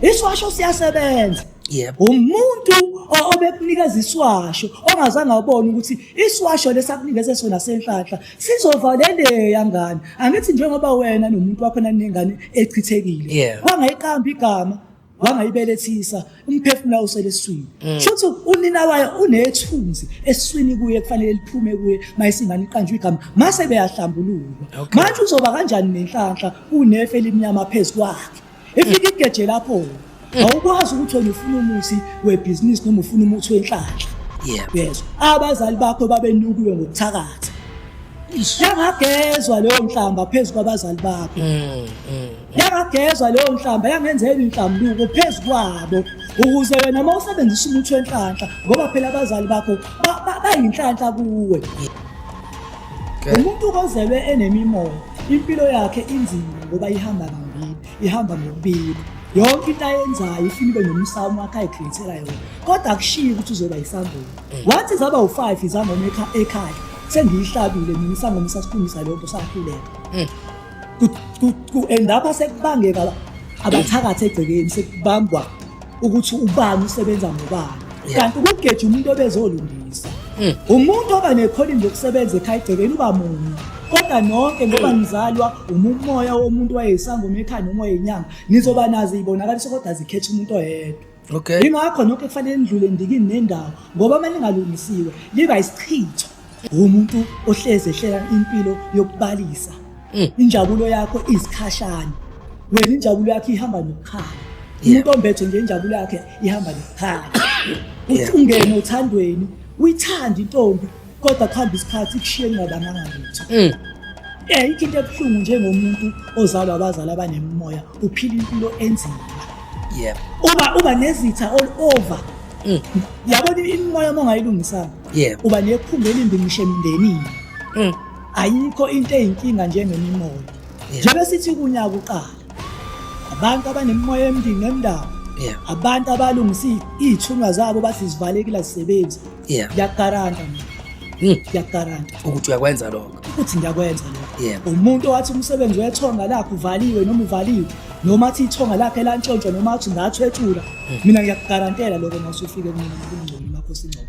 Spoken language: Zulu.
Iswasho siyasebenza. Yebo. Umuntu obekunikeza iswasho ongazange abone ukuthi iswasho lesakunikeze sona senhlanhla sizovaleleya ngane. Angithi njengoba wena nomuntu wakho nanengane echithekile. Wangayiqamba igama wangayibelethisa umphefumulo usele eswini mm. shothi unina wayo unethunzi eswini kuye kufanele liphume kuye mayisingane iqanjwe igama mase beyahlambululwa manje uzoba kanjani nenhlanhla unefe elimnyama phezu kwakhe efika igeje lapho awukwazi ukuthi wena ufuna umusi webhizinisi noma ufuna umuthi wenhlanhla yezwa abazali bakho babenukiwe ngokuthakatha yangagezwa leyo nhlamba phezu kwabazali bakho mm, mm. yangagezwa leyo nhlamba yangenzela inhlambuko phezu kwabo ukuze wena uma usebenzisa umuthi wenhlanhla ngoba phela abazali bakho bayinhlanhla kuwe umuntu ozelwe enemimoya impilo yakhe inzima ngoba ihamba kambili ihamba ngokubili yonke into ayenzayo ifuna ibe nomsamo wakhe ayikhethela yona kodwa akushiyi ukuthi uzoba yisangoma mm. wathi zaba u-five izangoma ekhaya sengiyihlabile mina isangoma sasikhulisa leyo nto sakhuleka mm. ku-endapha sekubangeka abathakathi egcekeni sekubambwa ukuthi ubani usebenza ngobani kanti ukugeja umuntu obezolungisa hmm. umuntu oba nekhono nje okusebenza ekhaya egcekeni uba munye kodwa nonke ngoba hmm. ngizalwa umumoya womuntu wayeyisangoma ekhaya noma wayeyinyanga nizoba nazi ibonakaliso kodwa zikhetha umuntu oyedwa okay yingakho nonke kufanele nidlule ndikini nendawo ngoba uma lingalungisiwe liba isichitho Umuntu ohleze ehlela impilo yokubalisa. Mm. Injabulo yakho izikhashana. Wena injabulo yakho ihamba nokukhala. Umuntu ombethe nje injabulo yakhe ihamba nokukhala. Uthi ungene othandweni, uyithanda intombi kodwa kuhamba isikhathi kushiye ningabanganga lutho. Mm. Eh into ebuhlungu njengomuntu ozalwa abazali abanemimoya uphila impilo enzima. Yebo. Uba uba nezitha all over. Mm. Yabona imimoya mongayilungisanga. yebo uba nephunga elimbi ngisho emndenini mm. ayikho into eyinkinga njengemimoya njengoba sithi kunyaka uqala abantu abanemimoya embi ngemndaba abantu abalungisa iy'thunywa zabo bathi zivalekile azisebenzi ngiyakugaranta mina hmm. ngiyakugaranta ukuthi uyakwenza lokho ukuthi ngiyakwenza lokho umuntu owathi umsebenzi wethonga lakho uvaliwe noma uvaliwe noma athi ithonga lakhe lantshontshwa noma athi ngathwethula hmm. mina ngiyakugarantela lokho masufike mina ngokungcono makhosi ingcono